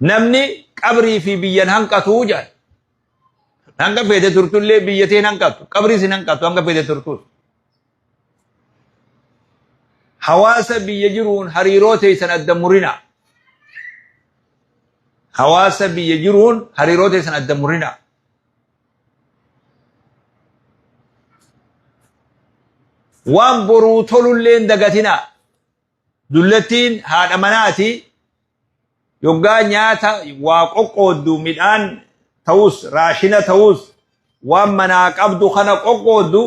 Namni qabrii fi biyyan hanqatuu jedhan. Hanga feete turtullee biyya teen hanqatu. Qabriis hin hanqatu hanga feete turtus. Hawaasa biyya jiruun hariiroo teessan adda murina. Hawaasa biyya jiruun hariiroo teessan adda murina. Waan boruu tolullee hin dagatinaa. Dullattiin haadha manaati. Yoggaa nyaata waa qoqqooddu midhaan ta'us raashina ta'us waan manaa qabdu kana qoqqooddu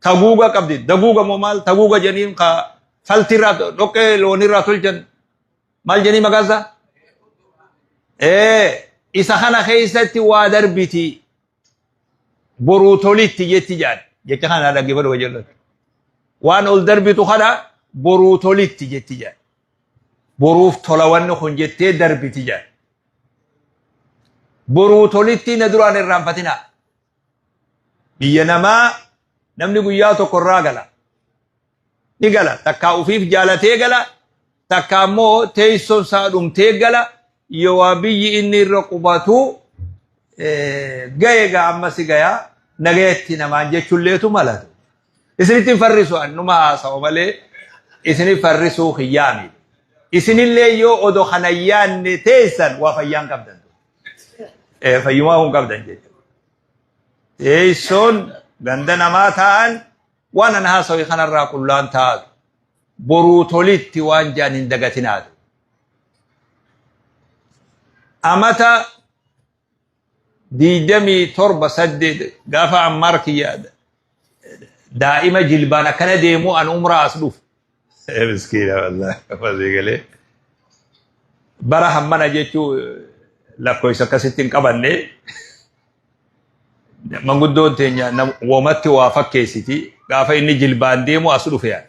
taguuga qabdi. Daguuga moo maal taguuga jeniin ka falti irraa dhoqqee loonii irraa tolchan maal jenii maqaan isaa? Ee isa kana keessatti waa darbiti. boruu tolitti jetti jedhan jecha kana dhaggeeffadhu kan jedhu waan ol darbitu kana boruu tolitti jetti jedhan boruuf tola wanni kun jettee darbiti jedhan boruu tolitti na duraan irraanfatinaa biyya namaa namni guyyaa tokko irraa gala ni gala takkaa ufiif jaalatee gala takkaa immoo teessoon isaa dhumtee gala yowaa biyyi inni irra qubatu gaye gaa amma si gayaa nagayatti namaan jechuulleetu malatu isinitti hin farrisu annuma haasawa malee isini farrisuu kiyyaami isinillee yoo odo kana yaanne teessan waa fayyaan qabdan fayyumaa kun qabdan jechuudha teessoon ganda namaa ta'an Waan an haasawe kanarraa qullaan taatu. Boruu tolitti waan jaan hin dagatinaatu. Amata diidamii torba saddeet gaafa ammaar kiyya daa'ima jilbaan akkana deemuu an umraa as dhufu. Miskiina wallahi masii galee. Bara hammana jechuu lakkoofsa akkasitti hin qabanne manguddoon teenya nam- womatti waa fakkeessiti gaafa inni jilbaan deemu as dhufe yaada.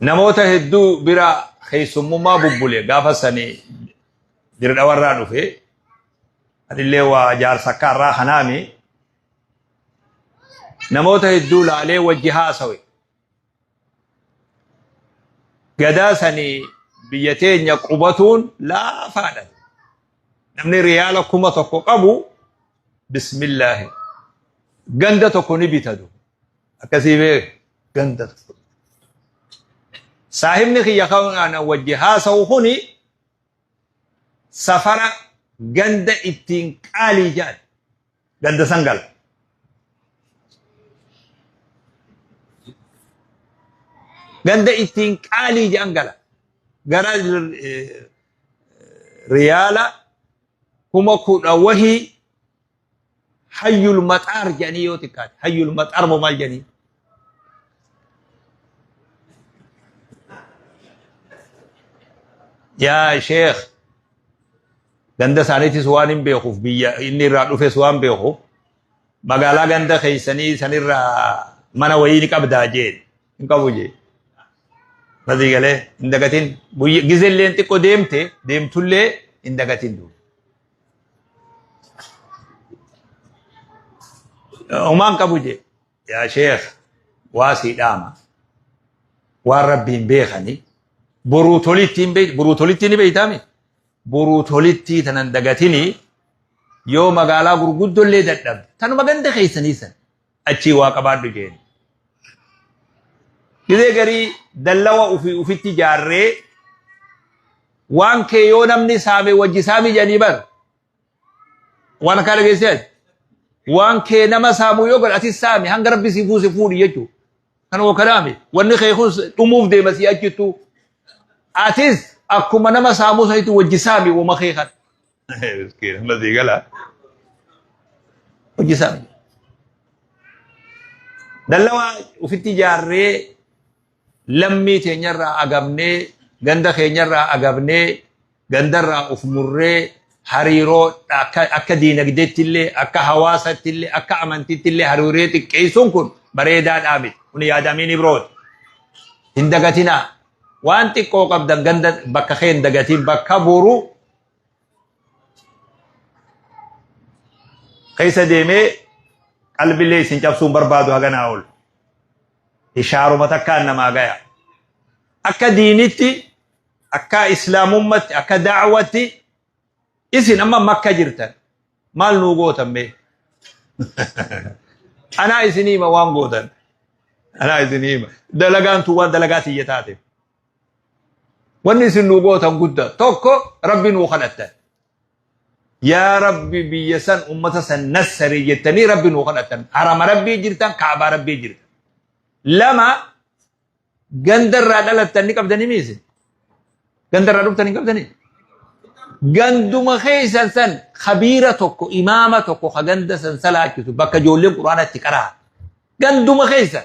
Namoota hedduu bira keessummummaa bubbule gaafa sanii dirdhawarraa dhufe anillee waa jaarsa akka irraa kanaami namoota hedduu laalee wajji haasawe gadaa sanii biyya teenya qubatuun laafaadha namni riyaala kuma tokko qabu bismillaahi ganda tokko ni bitatu akkasii bee ganda tokko saahibni kiyya kan wajji haasa'u kuni safara ganda ittiin qaalii jedhan ganda san gala. Ganda ittiin qaalii jedhan gala. Gara eh, riyaala kuma kudha wahii hayyul maxaar jedhanii yoo xiqqaate hayyul maxaar moo maal jedhanii yaa sheekh ganda isaaniitis waan hin beekuuf biyya inni irraa dhufes waan beekuuf magaalaa ganda keessanii sanirraa mana wayii ni qabdaa jeen hin qabu jee nazii galee hin dagatin guyya gizelleen xiqqoo deemte deemtullee hin dagatin duuba. Umaan qabu jee yaa sheekh waa sii dhaama waan rabbiin beekani boruu tolittiin beekti boruu tolittii ni beektaami boruu tolittii tanan dagatini yoo magaalaa gurguddollee dadhabde tanuma ganda keessanii san achii waa qabaadhu jeeni gizee garii dallawa ufi ufitti jaarree waan kee yoo namni saame wajji saami jedhanii bar Waan akkaa dhageessee ati. Waan kee nama saamuu yoo godhe atis saami hanga rabbi si buuse fuudhi jechuudha. Kan hoo kanaami wanni kee kun dhumuuf deema si achittuu. Atis akkuma nama saamuu sanitti wajji saami wama kee kan. Miskiin amma sii gala. Wajji saami. Dallawaa ofitti ijaarree Lammii teenyarraa agabnee, ganda keenyarraa agabnee, gandarraa of murree hariiroo akka diinagdeettillee, akka hawaasattillee, akka amantiittillee hariiroo xiqqeessuun kun bareedaadhaa miti. Kun yaada Amiin Ibrooti. Hin dagatinaa. Waan xiqqoo qabdan ganda bakka kee hin dagatiin bakka boru keessa deemee qalbilee isin cabsuun barbaadu haganaa ol. Ishaaruma takkaan namaa gaya. Akka diinitti, akka islaamummatti, akka daawwatti isin amma makka jirtan maal nuu gootan mee? Anaa isin hima waan gootan. Anaa isin hima. Dalagaan tun waan dalagaa tiyya taateef. Wanni isin nu gootan guddaa tokko rabbi nuu kadhattan. Yaa rabbi biyya san ummata san nassari jettanii rabbi nuu kadhattan. Harama rabbii jirtan kaabaa rabbii jirtan. Lama ganda irraa dhalattan ni qabdanii miise. Ganda irraa dhuftan hin qabdanii. Ganduma keessan san kabiira tokko imaama tokko ka ganda san salaachisu bakka ijoolleen quraanatti qaraa. Ganduma keessan.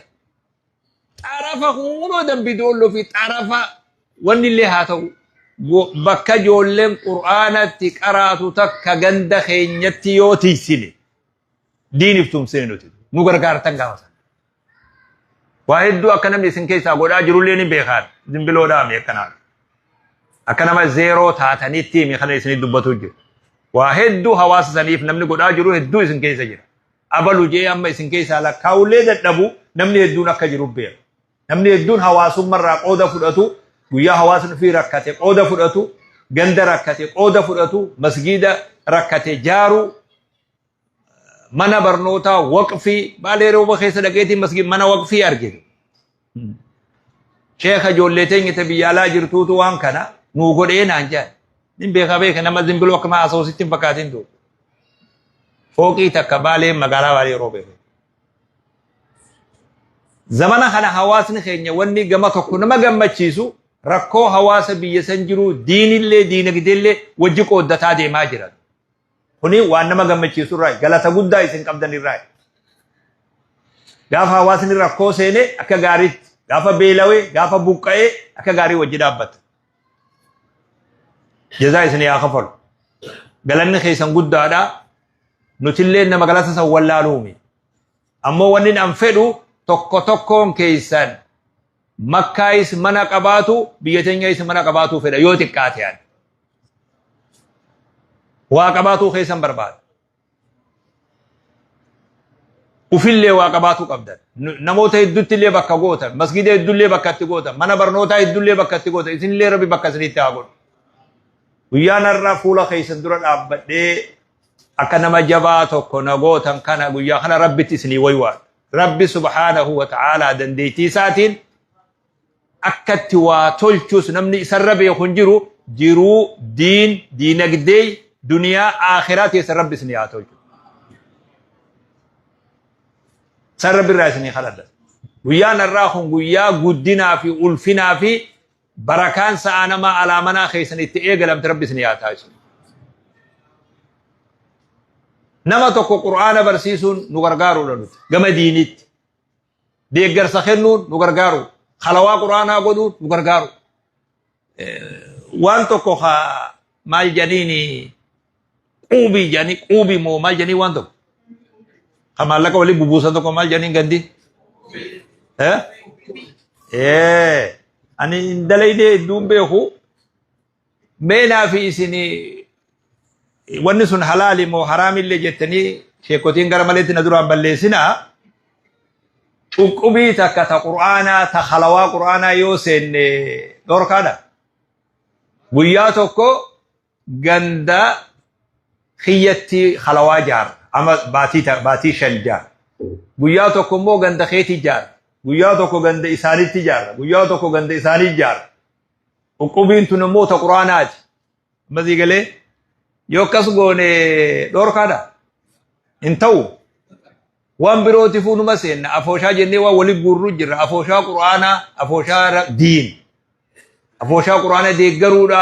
xarafa kunoo dambidoollo fi xarafa wanni illee haa ta'u go- bakka ijoolleen qur'aanatti qaraatu takka ganda keenyatti yoo tiysine diiniif tumsine nuti nu gargaartan gaafa sana. Waa hedduu akka namni isin keessaa godhaa jirullee ni beekaan zimbiloodhaa mi akkanaa akka nama zeeroo taatanitti mi kana isinii dubbatu jiru. Waa hedduu hawaasa saniif namni godhaa jiru hedduu isin keessa jira. abalu je'ee amma isin keessaa lakkaa'ullee dadhabu namni hedduun akka jiru beeku. Namni hedduun hawaasummarraa qooda fudhatu, guyyaa hawaasni ofii rakkate qooda fudhatu, ganda rakkate qooda fudhatu, masgiida rakkate jaaru, mana barnootaa waqfii, baalee rooba keessa dhaqeetiin masgiid mana waqfii argite. Sheekha ijoollee teenya ta biyya alaa jirtuutu waan kana nuu godhee naan jedhan. Nin beeka beeka nama zimbiloo akkuma asoositti hin fakkaatin ture. Fooqii takka baalee magaalaa baalee yeroo beeku. Zamana kana hawaasni keenya wanni gama tokko nama gammachiisu rakkoo hawaasa biyya san jiru diinillee diinagdeellee wajji qooddataa deemaa jiran. Kuni waan nama gammachiisu irraa galata guddaa isin qabdan irraa. Gaafa hawaasni rakkoo seene akka gaariitti, gaafa beelawee, gaafa buqqa'ee akka gaarii wajji dhaabbata. Jazaa isin yaa kafalu. Galanni keessan guddaadha. Nutillee nama galata san wallaaluumi. Ammoo wannin an fedhu tokko tokkoon keessan makkaayis mana qabaatu biyya teenyayis mana qabaatuu fedha yoo xiqqaate ani. Waa qabaatuu keessan barbaada. Ufillee waa qabaatuu qabdan. Namoota hedduutti illee bakka gootan. Masgiida hedduullee bakka itti gootan. Mana barnootaa hedduullee bakka itti gootan. Isinillee rabbi bakka isinitti haa godhu. Guyyaan har'aa fuula keessan dura dhaabbadhee akka nama jabaa tokko na gootan kana guyyaa kana rabbitti isinii waywaadha. Rabbi subhaanahu wa ta'aalaa dandeettii isaatiin akkatti waa tolchus namni isarra beeku hin jiru jiruu diin diinagdee duniyaa aakhiraa keessa rabbi isinii haa tolchu. San rabbi irraa isinii kadhadha. Guyyaan har'aa kun guyyaa guddinaa fi ulfinaa fi Barakaan sa'aa namaa alaa manaa keessan itti eegalamte rabbi isin yaa taasisu. Nama tokko Qur'aana barsiisuun nu gargaaruudha nuti gama diiniitti. Deeggarsa kennuun nu gargaaru. Halawaa Qur'aanaa godhuun nu gargaaru. Waan tokko haa maal jedhanii Quubii jedhanii quubii moo maal jedhanii waan tokko. Kan maallaqa waliin bubuusan tokko maal jedhanii gandi. Eh? Eh. Ani hin dalaydee hedduun beeku. Meenaa fi isinii wanni sun halaali moo haraamillee jettanii sheekotiin gara maleetti na duraan balleessinaa. Cunqubii takka ta qur'aanaa ta halawaa qur'aanaa yoo seenne dhorkaadha. Guyyaa tokko ganda kiyyatti halawaa jaara ama baatii ta- baatii shan jaara guyyaa tokko immoo ganda keetii jaara guyyaa tokko ganda isaaniitti jaara guyyaa tokko ganda isaanii jaara qubbiin tun immoo ta quraanaati ammasii galee yoo akkas goone dhorkaadha hin ta'u waan birooti fuunuma seenna afooshaa jennee waan wali guurru jirra afooshaa quraanaa afooshaa ra- diin afooshaa quraana deeggaruudha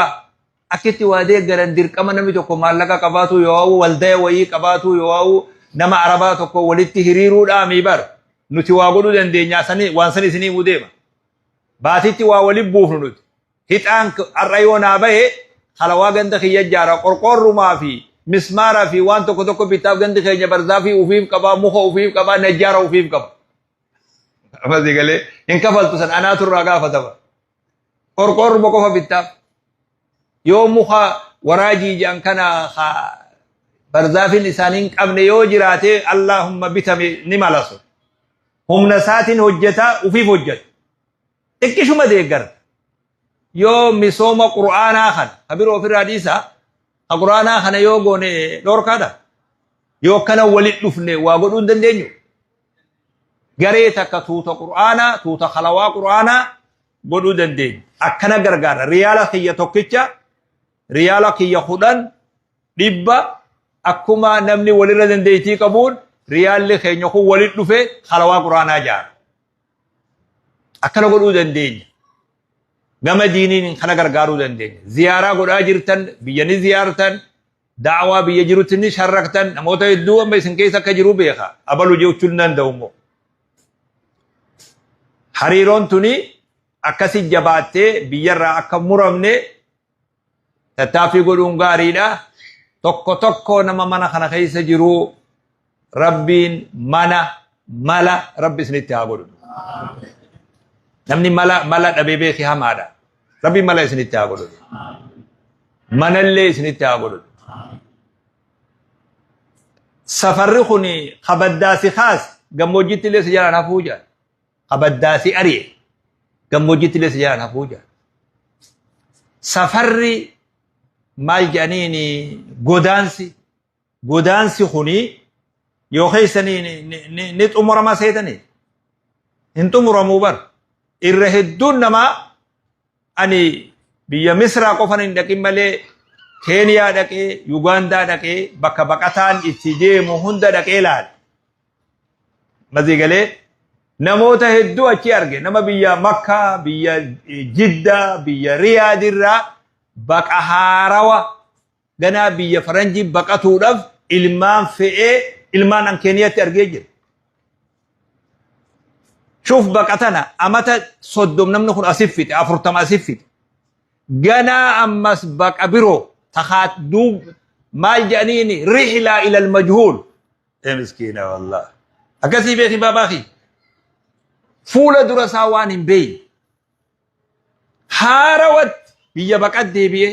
akkitti waa deeggaran dirqama namni tokko maallaqa qabaatuu yoo waldaya wayii qabaatuu yoo nama arabaa tokko walitti hiriiruudhaa mii bar nuti waa godhuu dandeenya sani waan san isinii muu deema baatitti waa wali buufnu nuti hixaan har'a yoo naa bahe halawaa ganda kiyya jaara qorqoorrumaa fi mismaaraa fi waan tokko tokko bitaaf gandi keenya barzaa fi ufiif qabaa muka ufiif qabaa najjaara ufiif qaba. Ammas galee hin kafaltu san anaatu irraa gaafatama. Qorqoorruma qofa bittaaf. Yoo muka waraajii jedhan kana ka barzaafin isaanii hin qabne yoo jiraate Allaahumma bitame ni malasu. Humna isaatiin hojjeta ufiif hojjeta. Xiqqishuma deeggara. Yoo misooma Qur'aanaa kana ka biroo ofirraa dhiisaa ka Qur'aanaa kana yoo goone dhorkaadha. Yoo akkana walitti dhufne waa godhuu hin dandeenyu. garee takka tuuta qur'aanaa tuuta kalawaa qur'aanaa godhuu dandeenya akkana gargaara riyaala kiyya tokkicha riyaala kiyya kudhan dhibba akkuma namni walirra dandeettii qabuun riyaalli keenya kun walit dhufe kalawaa qur'aanaa jaara akkana godhuu dandeenya gama diiniin kana gargaaruu dandeenya ziyaaraa godhaa jirtan biyya ni ziyaartan Da'awaa biyya jirutti ni sharraktan namoota hedduu amma isin keessa akka jiru beeka abalu jechuun nan danda'u immoo. Hariiroon tuni akkasi jabaattee biyyarraa akka muramne tattaaffii godhuun gaariidha. Tokko tokko nama mana kana keessa jiru Rabbiin mana mala rabbi isinitti haa godhu. Namni mala mala dhabee beeki hamaadha. Rabbiin mala isinitti haa godhu. Manallee isinitti haa godhu. Safarri kun kabaddaasi kaas gammoojjiitti illee si jalaan hafuu jira. Kabaddaasi ari'e gammoojjiitti illee si jalaan hafuu jira. Safarri maal jedhaniin godaansi godaansi kuni yoo keessa ni, ni, ni, ni, ni xumurama seetanii hin xumuramuu bar irra hedduun namaa ani biyya misraa qofan hin dhaqin malee keeniyaa dhaqee yugaandaa dhaqee bakka baqataan itti deemu hunda dhaqee laale mazii galee namoota hedduu achi arge nama biyya makkaa biyya eh, jiddaa biyya riyaadirraa baqa haarawa Ganaa biyya faranjii baqatuudhaf ilmaan fe'ee ilmaan an Keeniyatti argee jira. Shuf baqatana amata soddom namni kun asif fite afurtama asif fite. Ganaa ammas baqa biroo takaat duub maal jedhaniini rihlaa ilal majhuul. Ee miskiina wallah. Akkasii beeki baabaa kiyya. Fuula dura isaa waan hin beeyne. haarawatti biyya baqat deebi'ee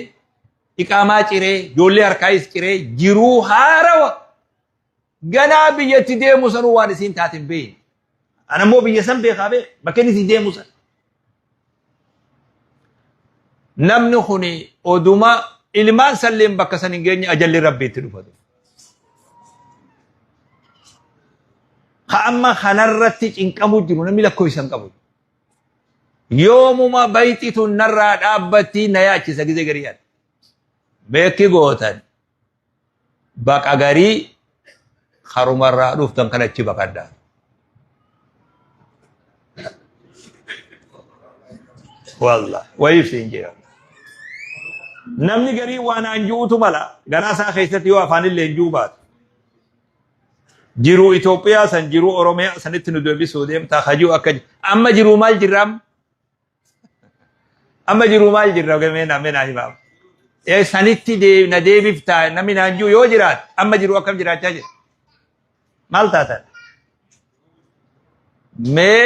iqaamaa ciree ijoollee harkaayis ciree jiruu haarawa ganaa biyyatti deemu sanuu waan isiin taate hin beekne. Ana immoo biyya san beekaa beeka bakka inni itti deemu san. Namni kun oduma ilmaan salleen bakka san hin geenye ajalli rabbi itti dhufatu. Ka amma kanarratti cinqamu jiru namni lakkoofsa hin qabu. yoomuma bayti tun narraa dhaabbatti na yaachisa gizee garii yaada beekki gootan baqa garii harumarraa dhuftan kan achi baqadha wallah wayif siin jira namni garii waan aan ji'uutu mala garaa isaa keessatti yoo afaan illee hin ji'uu baatu jiruu Itoophiyaa san jiruu Oromiyaa sanitti nu deebisuu deemtaa kajuu akka amma jiruu maal jirra amma amma jiruu maal jirra gameen ameen himaam ee sanitti dee- na deebiftaa namni naan jiru yoo jiraat amma jiruu akkam jiraachaa jira maal taatan mee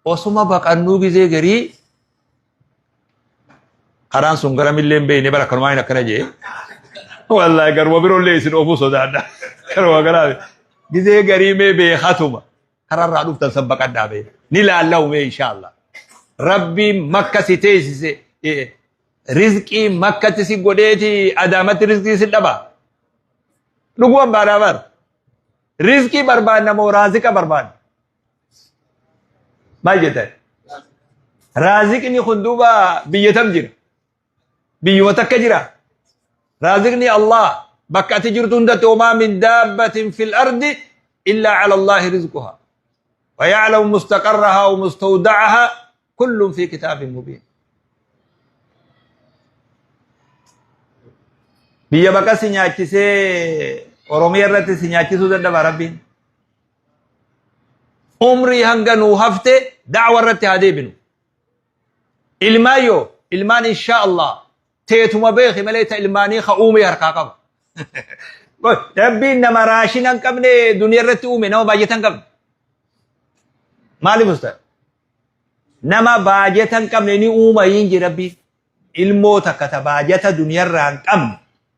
Osuma baqannuu gizee garii karaan sun gara millee hin beekne bara kanumaa hin akkana jee. Wallaahi garuma biroo illee isin oofuu sodaadha. Garuma garaa gizee garii mee beekatuma kararraa dhuftan san baqadhaa bee. Ni laallawu mee inshaallah. Rabbiin makka si teessise eh, rizqii makkatti si godheeti adaamatti rizqii si dhaba. Dhuguman baadhaa bar. Rizqii barbaanna moo raazika barbaanna? Maal jettan? Raaziqni kun duuba biyya tam jira? Biyyuma takka jira? Raaziqni Allah bakka ati jirtu hundatti homaa min daabbatin fil ardi illaa ala Allahi rizquha. Wa ya'lamu mustaqarraha wa mustawda'aha kullun fi kitaabin mubiin. Biyya bakka si nyaachisee Oromiyaa irratti si nyaachisuu dadhaba Rabbiin. umrii hanga nuu hafte da'wa irratti haa deebinu ilmaan yoo ilmaan inshaa allah teetuma beeki malee ta ilmaanii ka uumee harkaa qaba rabbiin nama raashina hin qabne duniya irratti uume nama baajata hin qabne maaliif usta nama baajata hin qabne ni uuma hin ji rabbiin ilmoo takka ta baajata duniya irraa hin qabne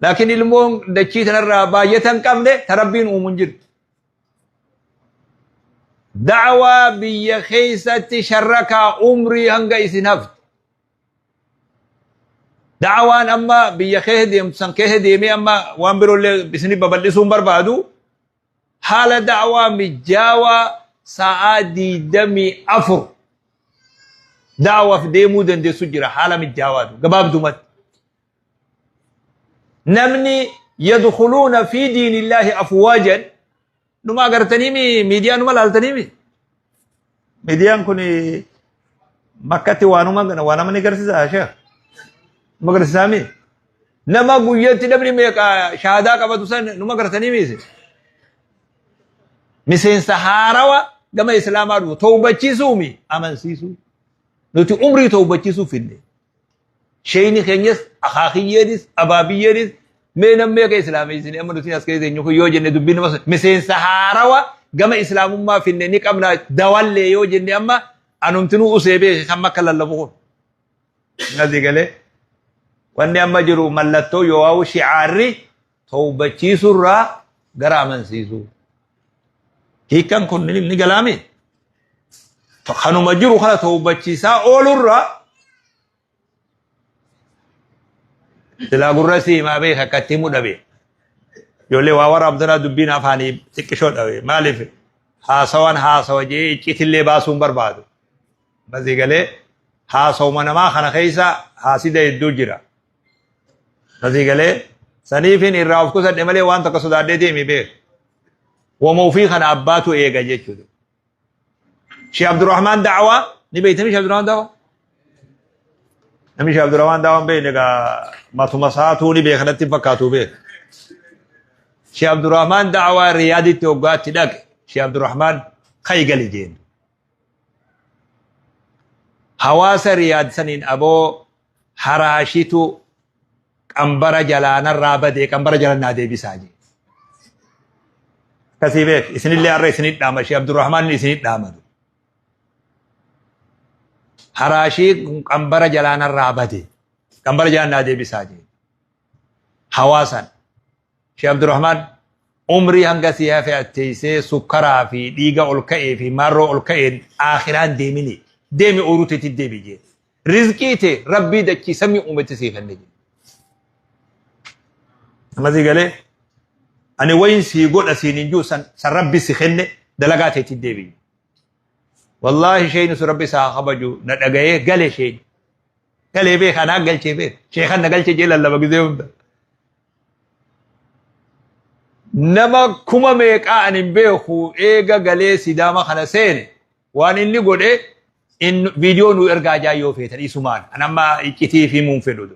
Laakiin ilmoon dachii tanarraa baay'ata hin qabne ta rabbiin uumu hin jirtu. Da'awaa biyya keessatti sharrakaa umrii hanga isin haftu. Da'awaan amma biyya keessa deemtu san keessa deemee amma waan biroollee isin babal'isuu hin barbaadu. Haala da'awaa mijaawaa sa'aa diidamii afur da'awaaf deemuu dandeessu jira haala mijaawaatu gabaabdumatti. namni yadkhuluuna fi diinillaahi afwaajan numa agartaniimi miidiyaa numa laaltaniimi miidiyaan kun makkatti waanuma waa nama ni garsiisa sheekh numa garsiisaami nama guyyatti namni meeqa shahaadaa qabatu san numa agartaniimi isin miseensa haarawa gama islaamaa dhufu tawbachiisuumi amansiisuu nuti umrii tawbachiisuu finne Sheeyni keenyas akaakiyyeenis abaabiyyeenis mee nammee akka islaameessine amma nuti as keessa eenyu kun yoo jenne dubbii nama miseensa haarawa gama islaamummaa finne ni qabna dawallee yoo jenne amma anumtinuu usee beeke kan makka lallabu kun. Nasi galee wanni amma jiru mallattoo yoo shi'aarri tawbachiisuu irraa gara amansiisuu. Hiikan kun ni ni galaami. Kanuma jiru kana tawbachiisaa ooluu irraa silaa gurra si himaa beeka akka itti himu dhabe. Ijoollee waa waraabdanaa dubbiin afaanii xiqqishoo dhabe. Maaliif haasawaan haasawa jee icciitillee baasuu hin barbaadu. Basii galee haasawuma namaa kana keessa haasida hedduu jira. Asii galee saniifin irraa of qusadhe malee waan takka sodaadhee deemi beeku. Wama ofii kana abbaatu eega jechuudha. Sheekh Abdurrahmaan Da'awaa ni beektanii Sheekh Abdurrahmaan Da'awaa? Namni Sheekh Abdurrahmaan Da'awaa hin beekne egaa matuma saatuu ni beeka natti hin fakkaatu beeku. Sheekh Abdurrahmaan Da'awaa Riyaaditti hoggaatti dhaqe. Sheekh Abdurrahmaan ka'i gali jeeni. Hawaasa Riyaad saniin aboo haraashitu qambara jalaa narraa badee qambara jala naa deebisaa jee. Akkasii beek isinillee har'a isinit dhaama ishee Abdurrahmaan isinit dhaamatu. Haraashii qambara jalaa narraa badee qambara jala naa deebisaa jee. Hawaasan ishee Abdurrahmaan umrii hanga si hafe atteessee sukkaraa fi dhiiga ol ka'ee fi marroo ol ka'een aakiraan deemini deemi ooruteetti deebi jee. Rizqii tee rabbii dachii samii uumetti sii kenne jedhe. Ammasii galee ani wayin sii godha siin hin jiru san san rabbi si kenne dalagaa teetti deebi'i. Wallaahi sheeyni sun rabbi isaa kabaju na dhaga'ee gale sheeyni. Galee beeka anaa galchee beeka sheekan na galchee jee lallaba gizee hunda. Nama kuma meeqaa ani hin beeku eega galee sidaama kana seene Waan inni godhe in viidiyoo nu ergaa jaa yoo feetan isumaan an amma iccitii fi himuun fedhu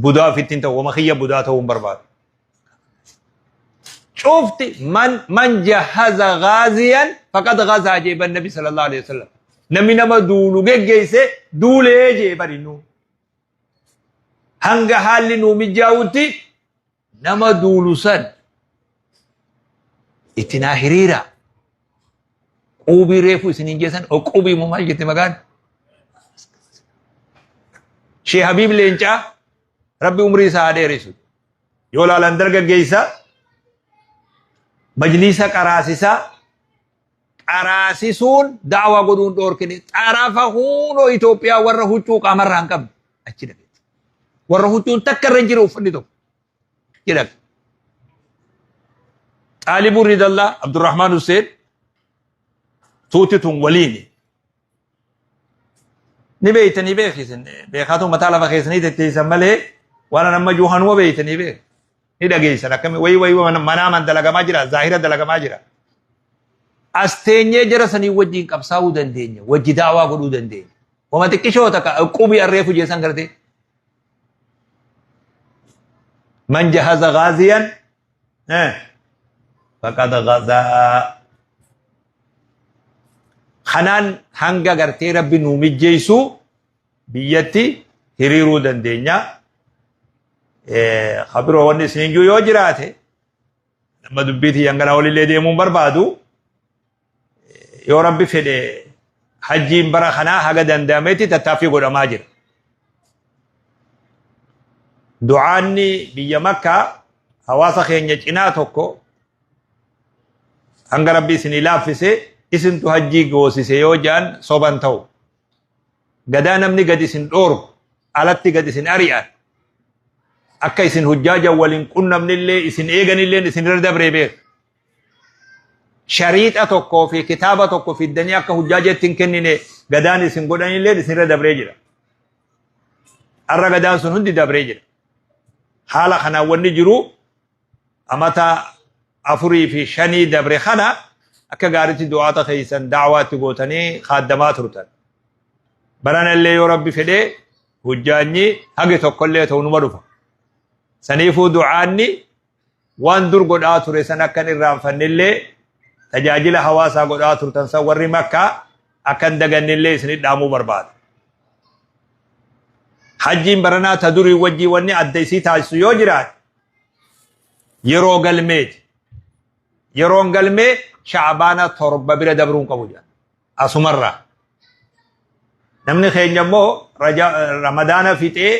budaa ofitti hin ta'u wama kiyya budaa ta'uu hin barbaadu. Cufti man man jahaza gaaziyan faqad gazaa jeeban nabi sallallahu alaihi wasallam. Namni nama duulu geggeesse duulee jeeban innuu. Hanga haalli nuu mijaa'utti nama duulu san itti naa hiriiraa. Quubii reefu isiniin jeesan o quubii moo maal jette magaan? Shee Habiib Leencaa rabbi umrii isaa haa dheeresu. Yoo laalan dargaggeessa majliisa qaraasisaa Qaraasisuun da'awaa godhuun dhoorkine xarafa huunoo Itoophiyaa warra huccuu qaamarraa hin qabne achi dhageessa. Warra huccuun takka irra hin jiru uffanni tokko jedhame. Xaalibuun Ridallaa Abdurrahmaan Hussein tuuti tun waliini. ni beeytanii beekisan beekaatu mataa lafa keessanii tetteessan malee waan an amma juuhanuma beeytanii beek ni dhageessan akkami wayi wayi manaa man dalagamaa jira zaahira dalagamaa jira as teenyee jara sanii wajjin qabsaa'uu dandeenya wajji daawaa godhuu dandeenya wama xiqqishoo takka qubii arree fujeessan gartee man jahaza gaaziyan Eh, faqad ghazaa. Kanaan hanga gartee rabbi nuu mijjeessu biyyatti hiriiruu dandeenya. Eh, Kabiroo wanni isin iyyuu yoo jiraate, amma dubbiitii hanganaa olillee deemuun barbaadu. yoo rabbi fedhe hajjiin bara kanaa haga danda'ametti tattaaffii godhamaa jira. Du'aanni biyya makkaa hawaasa keenya cinaa tokko hanga rabbi isinii laaffise isintu hajjii goosise yoo ja'an soban ta'u. Gadaa namni gad isin dhooru alatti gad isin ari'an akka isin hujjaaja waliin qunnamnillee isin eeganilleen isin irra dabree beeku. shariixa tokkoo fi kitaaba tokko fiddanii akka hujjaa jeetti hin kennine gadaan isin godhanillee isinirra dabree jira. Har'a gadaan sun hundi dabree jira. Haala kanaan wanni jiru amata afurii fi shanii dabre kana akka gaaritti du'aata keessan daawaatti gootanii kaaddamaa turtan. Baranallee yoo rabbi fedhee hujjaanyi hagi tokkollee ta'u numa dhufa. Saniifuu du'aanni Waan dur godhaa ture san akka hin irraanfannellee tajaajila hawaasaa godhaa turtan san warri Makkaa akka hin dagannellee isinit dhaamuu barbaada. Hajjiin baranaa ta durii wajjii wanni adda isii taasisu yoo jiraate yeroo galmeeti. Yeroon galmee shaabaana torba bira dabruu hin qabu jedha. Asumarraa. Namni keenya immoo Raja- Ramadaana fixee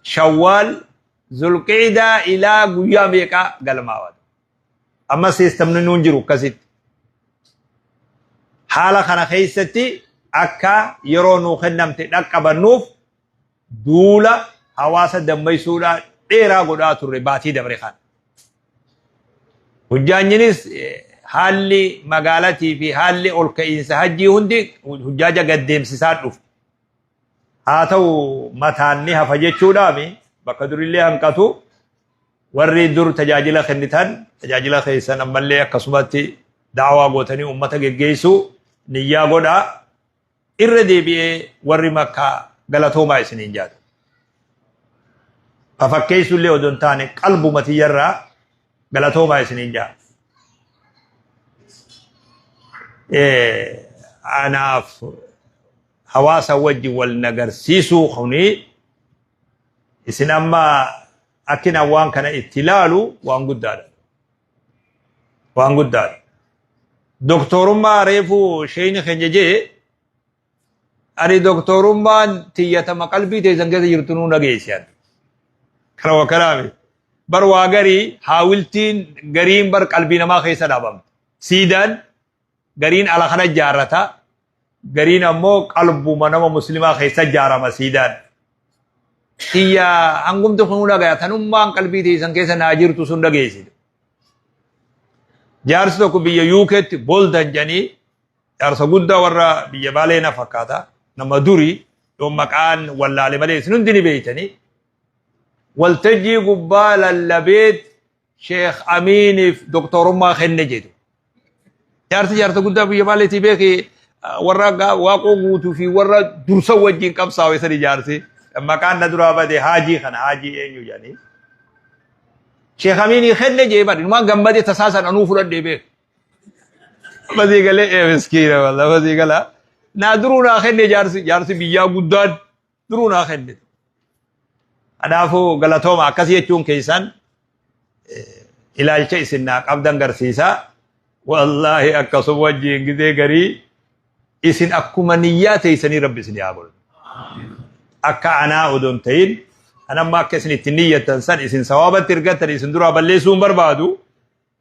Shawwaal Zulqiidaa ilaa guyyaa meeqaa galmaawaa ta'e. Amma siistamni nuun jiru akkasitti. Haala kana keessatti akka yeroo nuu kennamte dhaqqabannuuf duula hawaasa dammaysuudhaa dheeraa godhaa turre baatii dabre kana. Hujjaanyinis haalli magaalatii fi haalli ol ka'iinsa hajjii hundi hujjaaja gad deemsisaa dhufe. haa ta'u mataan ni hafa jechuudhaami bakka durillee hanqatu warri dur tajaajila kennitan tajaajila keessan ammallee akkasumatti daawaa gootanii uummata geggeessuu niyyaa godhaa irra deebi'ee warri makkaa galatoomaa isiniin jaata. Ka fakkeessu illee odoo hin taane qalbuma tiyyarraa galatoomaa isiniin jaata. Anaaf hawaasa wajjin wal hin agarsiisuu kuni isin amma akkin an waan kana itti ilaalu waan guddaadha. Waan guddaadha. Doktorummaa reefu sheeyni keenya jee ani doktorummaan tiyyatama qalbii teessan keessa jirtu nuu nageessiyan. Kana wakkanaami. Bar waa garii haawiltiin gariin bar qalbii namaa keessa dhaabamte. Siidaan gariin ala kana ijaarrata gariin ammoo qalbuma nama muslimaa keessa ijaarama siidaan tiyya hangumti kun dhagaya tanummaan qalbii teessan keessa naa jirtu sun dhageessite jaarsi tokko biyya yuukeetti boldan jedhanii jaarsa guddaa warra biyya baalee na fakkaata nama durii yoo maqaan wallaale malee isin hundi ni beektanii waltajjii gubbaa lallabeet Sheekh Amiiniif doktorummaa kenne jedhu. Jaarsi jaarsa guddaa biyya maaliitii beeki warra waaqoo guutuu fi warra dursa wajjin qabsaa'u isa ijaarsi. Maqaan na duraa bade haajii kana haajii eenyu jedhanii. Sheekh Amiinii kenne jee bari numaan gammadee tasaa sana nuu fudhadhee beeku. Masii galee ee miskiina walla masii galaa. Naa duruu naa kenne jaarsi jaarsi biyyaa guddaan. duruu naa kennitu. Kanaafuu galatooma akkas jechuun keessan ilaalcha isin naa qabdan garsiisa. Wallaahi akkasuma wajjin gizee garii isin akkuma niyyaa teessanii rabbi isin yaa godhu. Akka anaa odoo hin ta'in kan amma akka isin itti niyyattan san isin sawaabatti ergattan isin duraa balleessuu hin barbaadu.